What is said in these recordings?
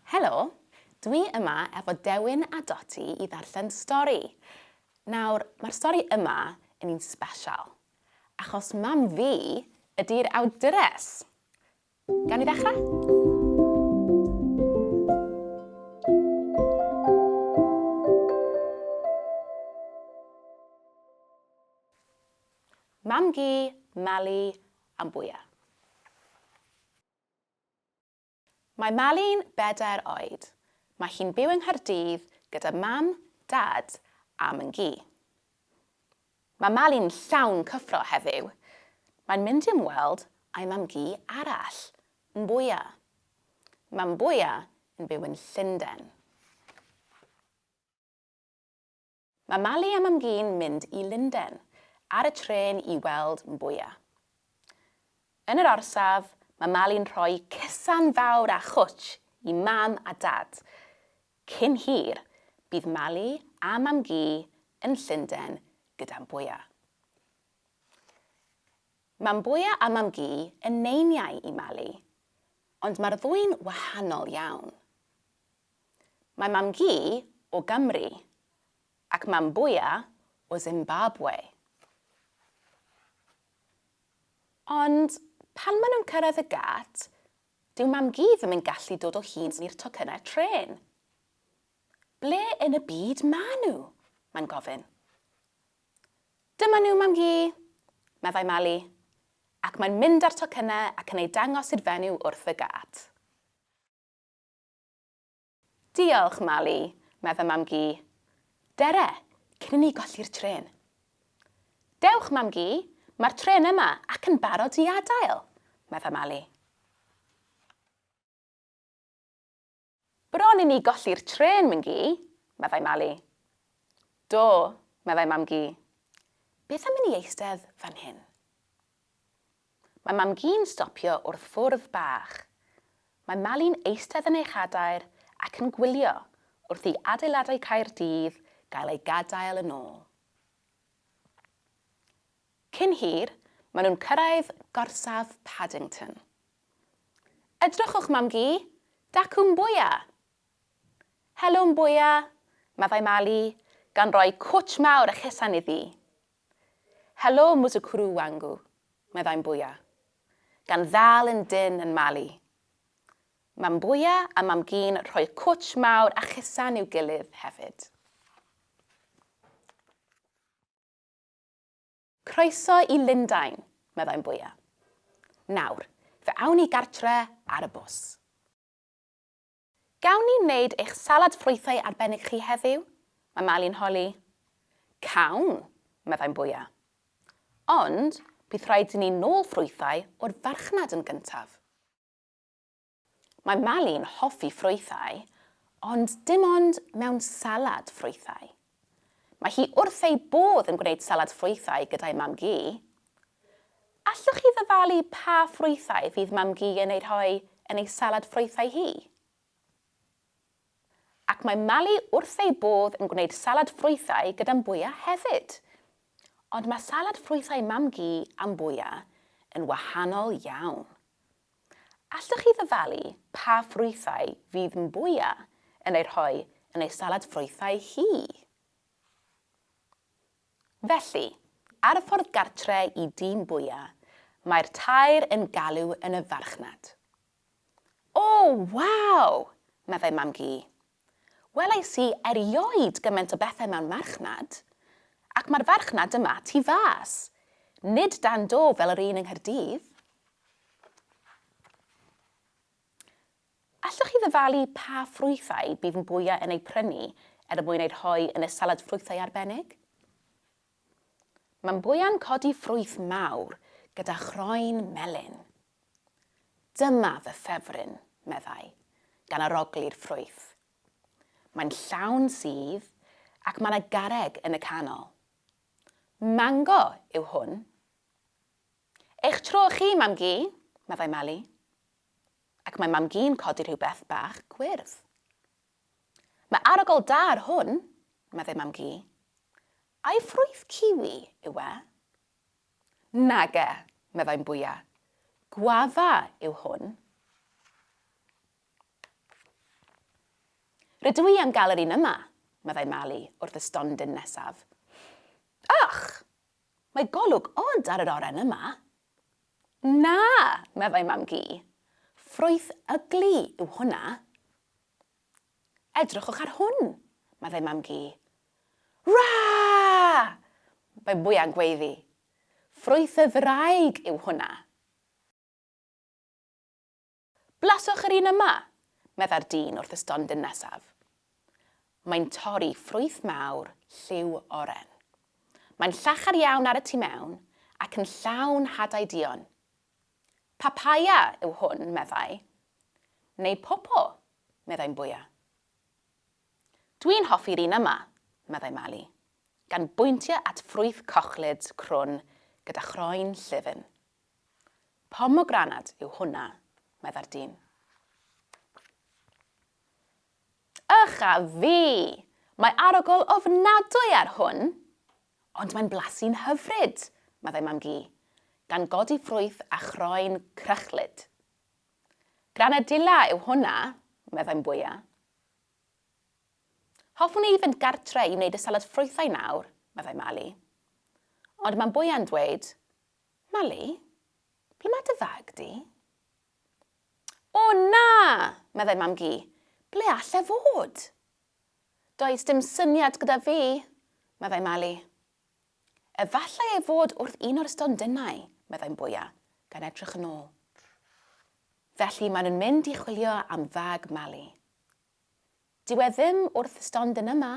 Helo! Dwi yma efo Dewin a Doti i ddarllen stori. Nawr, mae'r stori yma yn un sbeshal, achos mam fi ydi'r awdures! Gawn ni ddechrau? Mam-gu, Mali, am bwya. Mae Mali'n bedair oed. Mae hi'n byw yng Nghaerdydd gyda mam, dad a myn-gu. Mae Mali'n llawn cyffro heddiw. Mae'n mynd i ymweld â'i mam-gu arall, Mbwya. Mae Mbwya yn byw yn Llundain. Mae Mali a Mam-gu'n mynd i Lunden ar y trên i weld Mbuya. Yn yr orsaf, mae Mali'n rhoi cysan fawr a chwtsh i Mam a Dad. Cyn hir, bydd Mali a Mam-gu yn Llunden gyda Mbuya. Mae Mbuya a Mam-gu yn neiniau i Mali, ond mae'r ddwy'n wahanol iawn. Mae mam-gu o Gymru ac mam-bwya o Zimbabwe. Ond pan maen nhw'n cyrraedd y gât, dyw mam-gu ddim yn gallu dod o hyd i'r tocynnau trên. Ble yn y byd maen nhw? mae'n gofyn. Dyma nhw, mam-gu, meddai Mali, ac mae'n mynd â'r tocynnau ac yn eu dangos i'r fenyw wrth y gât. Diolch, Mali, mae fy mam-gu. Dere, cyn i ni golli'r trên. Dewch, mam-gu, mae'r trên yma ac yn barod i adael, mae fy Mali. Bron i ni golli'r trên, myn-gu, meddai Mali. Do, meddai mam-gu. Beth am i ni eistedd fan hyn? Mae Mam-gu'n stopio wrth fwrdd bach. Mae Mali'n eistedd yn ei chadair ac yn gwylio wrth i adeiladau Caerdydd gael eu gadael yn ôl. Cyn hir, maen nhw'n cyrraedd gorsaf Paddington. Edrychwch, Mam-gu! Dacw Mboia! Helo, Mboia! meddai Mali, gan roi cwtsh mawr a chesan iddi. Helo Mutukuru wangu, meddai Mbuya, gan ddal yn dynn yn Mali. Mae Mbuya a Mam-gu'n rhoi cwtsh mawr a chusan i'w gilydd hefyd. Croeso i Lundain, meddai Mbuya. Nawr, fe awn ni gartre ar y bws. Gawn ni wneud eich salad ffrwythau arbennig chi heddiw? mae Mali'n holi. Cawn, meddai'n bwya. Ond bydd rhaid i ni nôl ffrwythau o'r farchnad yn gyntaf. Mae Mali'n hoffi ffrwythau, ond dim ond mewn salad ffrwythau. Mae hi wrth ei bodd yn gwneud salad ffrwythau gyda'i mam-gu. Allwch chi ddyfalu pa ffrwythau fydd mam-gu yn eu rhoi yn ei salad ffrwythau hi? Ac mae Mali wrth ei bodd yn gwneud salad ffrwythau gyda'n bwya hefyd. Ond mae salad ffrwythau mam-gu a'n bwya yn wahanol iawn. Allwch chi ddyfalu pa ffrwythau fydd Mbuya yn eu rhoi yn ei salad ffrwythau hi? Felly, ar y ffordd gartre i dŷ Mbuya, mae'r tair yn galw yn y farchnad. O, waw! meddai Mam-gu. Welais i erioed gymaint o bethe mewn marchnad. Ac mae'r farchnad yma tu fas. Nid dan do fel yr un yng Nghaerdydd. Allwch chi ddyfalu pa ffrwythau bydd mwyau yn eu prynu er mwyn eu rhoi yn y salad ffrwythau arbennig? Mae mwyau'n codi ffrwyth mawr gyda chroen melyn. Dyma fy ffefryn, meddai, gan aroglu'r ffrwyth. Mae'n llawn sudd ac mae 'na garreg yn y canol. Mango yw hwn. Eich tro chi, Mam-gu, meddai Meli. Ac mae Mam-gu'n codi rhywbeth bach gwyrdd. Mae arogl da ar hwn, meddai Mam-gu. Ai ffrwyth ciwi yw e? Nage, meddai'n bwya. Gwafa yw hwn. Rydw i am gael yr un yma, meddai Mali wrth y stondin nesaf. Ych! Mae golwg od ar yr oren yma. Na, meddai Mam-gu. Ffrwyth ygli yw hwnna. Edrychwch ar hwn! meddai Mam-gu. Rah! Mae mwya'ng gweiddi. Ffrwyth y ddraig yw hwnna! Blaswch yr un yma! meddai'r dyn wrth y stondin nesaf. Mae'n torri ffrwyth mawr lliw oren. Mae'n llachar iawn ar y tu mewn ac yn llawn hadau duon. Papaya yw hwn, meddai. Neu popo, meddai'n bwya. Dwi'n hoffi'r un yma, meddai Mali, gan bwyntio at ffrwyth cochlyd crwn gyda chroen llyfn. Pomogranad yw hwnna, meddai'r dyn. Ych a fi! Mae arogl ofnadwy ar hwn! Ond mae'n blasu'n hyfryd! meddai Mam-gu, gan godi ffrwyth a chroen crychlyd. Granadilla yw hwnna, meddai Mbwya. Hoffwn i fynd gartre i wneud y salad ffrwythau nawr, meddai Mali. Ond mae Mbwya'n dweud, Mali, ble mae dy fag di? O na! meddai Mam-gu, ble allai fod? Does dim syniad gyda fi, meddai Mali. Efallai ei fod wrth un o'r stondinau, meddai'n bwya, gan edrych yn ôl. Felly maen nhw'n mynd i chwilio am fag Mali. Dyw e ddim wrth y stondin yma.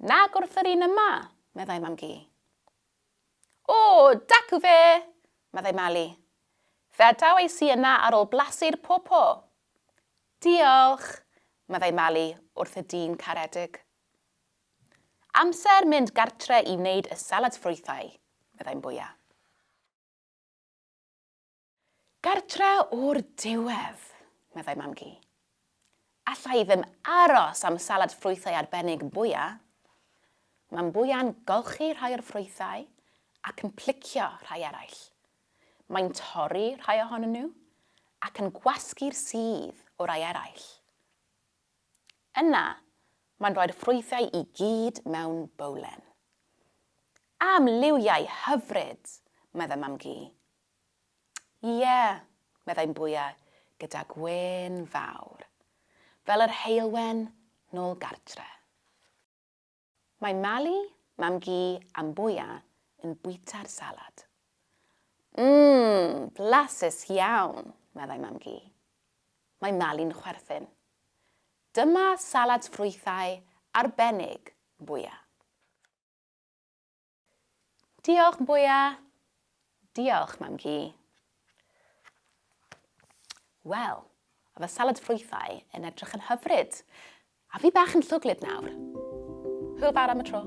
Nag wrth yr un yma, meddai mam gi. O, dacw fe, meddai Mali. Fe adaw ei si yna ar ôl blasu'r popo, Diolch! meddai Mali wrth y dyn caredig. Amser mynd gartre i wneud y salad ffrwythau, meddai'n bwya. Gartre o'r diwedd, meddai Mam-gu. Alla i ddim aros am salad ffrwythau arbennig, bwya. Mae'n bwya'n golchi rhai o'r ffrwythau ac yn plicio rhai eraill, Mae'n torri rhai ohonyn nhw ac yn gwasgu'r sudd o rai eraill. Yna, mae'n rhoi'r ffrwythau i gyd mewn bowlen. Am liwiau hyfryd! meddai Mam-gu. Ie, meddai'n bwya gyda gwên fawr, fel yr heulwen nôl gartre. Mae Mali, Mam-gu a Mbuya yn bwyta'r salad. Mmm, blasus iawn, meddai Mam-gu. Mae Mali'n chwerthin. Dyma salad ffrwythau arbennig, Mbuya. Diolch, Bwya! Diolch, Mam Gi. Wel, a fy salad ffrwythau yn edrych yn hyfryd. A fi bach yn llwglyd nawr. Hwyl fawr am y tro.